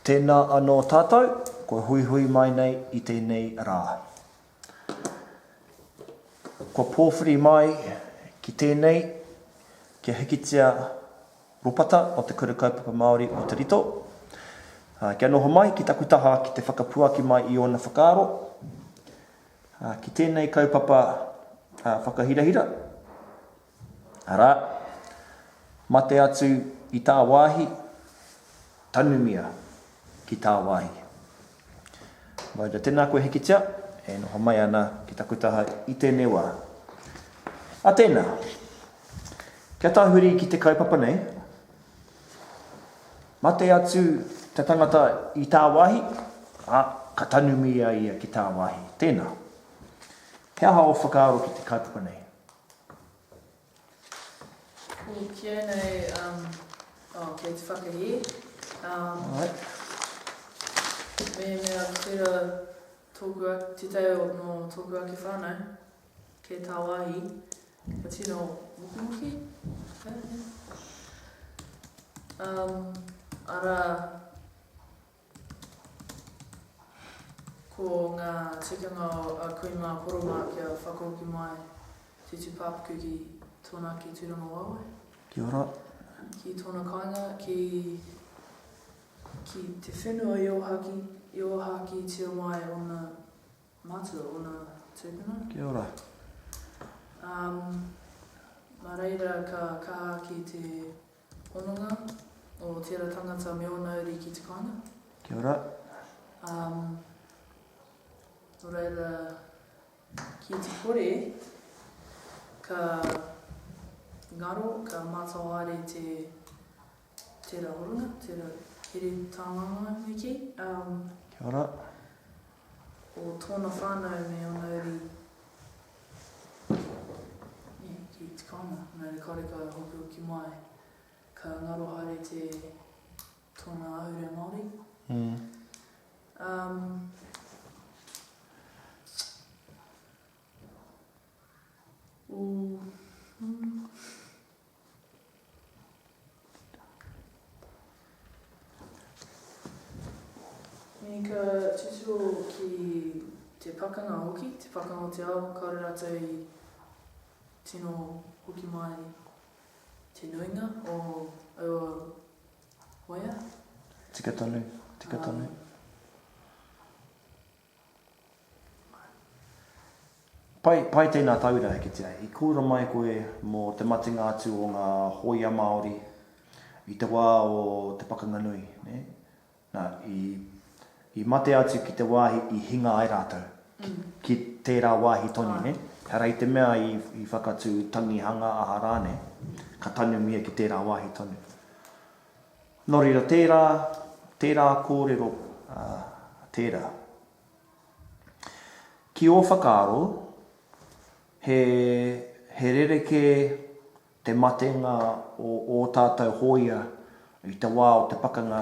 Tēnā anō tātou, kua huihui mai nei i tēnei rā. Kua pōwhiri mai ki tēnei kia hikitia ropata o te Kura Kaupapa Māori o Te Rito, kia noho mai ki taku taha ki te whakapuaki mai i ōna whakaaro ki tēnei kaupapa whakahirahira. Arā, mate atu i tāwāhi, tanumia ki tāwāhi. Maura, Tēnā koe Hikitia, e noho mai ana ki taku taha i tēnei wā. A tēnā, kia tahuri ki te kaupapa nei, mate atu te tangata i tāwāhi, ā, ka tanumia ia ki tāwāhi. Tēnā, he aha ō whakaaro ki te kaupapa nei? Ooh ki au nei um oh kei te whakahē um Alright. Mehemea tera toku ake te tau o no toku ake whanau kei tawahi ka tino mukumuki um ara Ko ngā tikanga o a kui mā Koromā kia whakahoki mai te tūpāpaku ki tōna ki Tūrangawaewae. Kia ora. Ki tōna kāinga, ki, ki te whenua i ōhaki, i ōhaki tia mai ōna mātua, ōna tūpuna. Kia ora. Um, mā reira ka kaha ki te Hononga o tera tangata me ona uri ki te koanga. Kia ora. Um, no reira, ki te kore, ka ngaro, ka mātawāre te tera horona, tera here tānganga me ki. Um, Kia ora. o tōna whānau me ōna uri, nē, ki te kāinga, nā reira kāore ka hokihoki mai, ka ngaro haere te tōna ahurea Māori. Mm. Um, o, mm, Me ka titiro ki te pakanga hoki, te pakanga o te ao, kāore rātou i tino hoki mai te nuinga o aua waea. Tika tonu, tika tonu. Pai, pai tēnā tauira e kitea. I kōrero mai koe mō te matenga atu o ngā hōia Māori i te wā o te pakanga nui, nē? Nā, i, i mate atu ki te wāhi i hinga ai rātou, ki, ki tērā wāhi tonu, nē? Ehara i te mea i, i whakatū tangihanga aha rānei, ka tanumia ki tērā wāhi tonu. Nō reira, tērā, tērā kōrero tērā. Ki ō whakaaro, he, he rerekē te matenga o ō tātou hōia i te wā o te pakanga,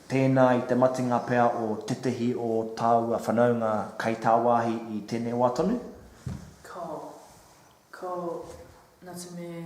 tēnā i te matenga pea o tētehi o tāua whanaunga kei tāwāhi i tēnei wā tonu? Ko, ko, nā te mea.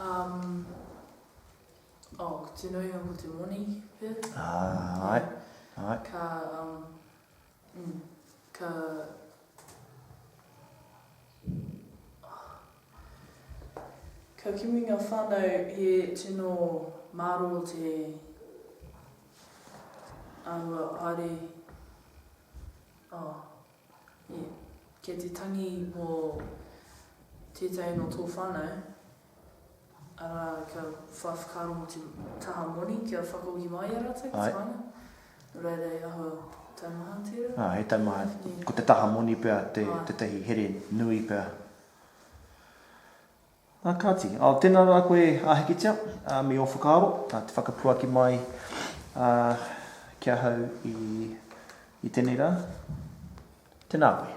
Um, oh, ko te nuinga ko te moni pea. Ah, ai, ai. Ka, um, mm, ka... Ka kimi ngā whānau he tino māro te āhua haere. Oh. Kei te tangi mō tētahi nō tō whānau, arā, kia whai whakaaro mō te taha moni kia whakahoki mai i a rātou ki te whānau, nō reira he aha taumaha tērā? Ā, he taumaha, ko te taha moni pea tētahi here nui pea. A kāti, ao tēnā rā koe a Hikitia, a me ō whakaaro, a te whakapuaki mai a ki ahau i i tenei rā. Tēnā koe.